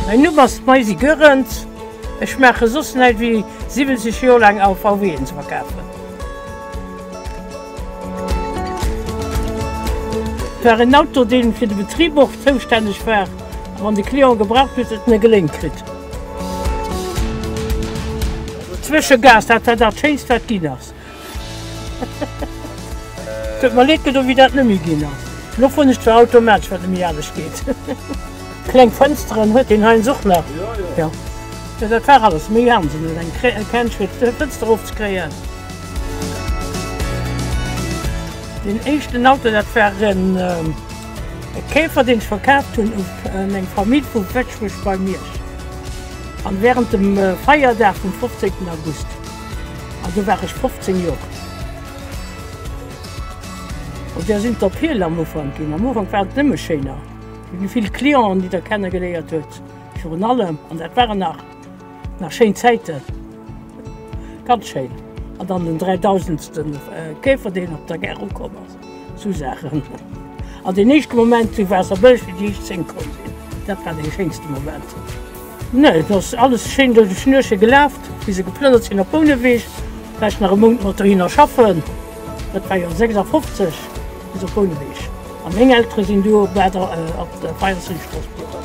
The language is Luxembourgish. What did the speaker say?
Hei nu bass d'Maisy Goerens, ech maache soss näit wéi 70 Joer laang AVWen ze verkafen. Et war en Auto deen fir de Betrib och zoustänneg war wann de Client gebraucht huet, et net geléint kritt. Zwësche Gas, dat war dat schéinst wat ginn ass. Tut mer leed gedo wéi dat nemmi ginn ass. Lo fron ech zwar automatsch wat nemmi anescht geet. Kleng Fënsteren huet deen heiens och nach. Jo jo dat war alles méi anescht elo eng Känsch fir d'Fënster erof ze kréien. Deen éischten Auto dat war en. E Käfer deen ech verkaaft hunn u meng Famill vu Wëtschbech bei Miersch an während dem Feierdag vum 15 August an do war ech 15 Joer. An där sinn d'Appele am Ufank ginn. Am Ufank waren et nëmme schéiner. Et gi vill Clienten déi der kenne geléiert huet virun allem an dat waren nach nach schéin Zäiten. Ganz schéin an dann den dräidausendsten Käfer deen op der Gare ukomm ass. Sou Saachen. An deen éischte Moment zu Waasserbëlleg, déi éischt zéng komm sinn, dat war dee schéinste Moment. Nee, et ass alles schéin duerch e Schnürche gelaf, wéi se geplënnert sinn op Bouneweg. Vläicht nach e Mount mat dohinner schaffen, dat war jo 56 bis op Bouneweg. A meng Eltere sinn duo bal op der 24 Strooss bliwwen.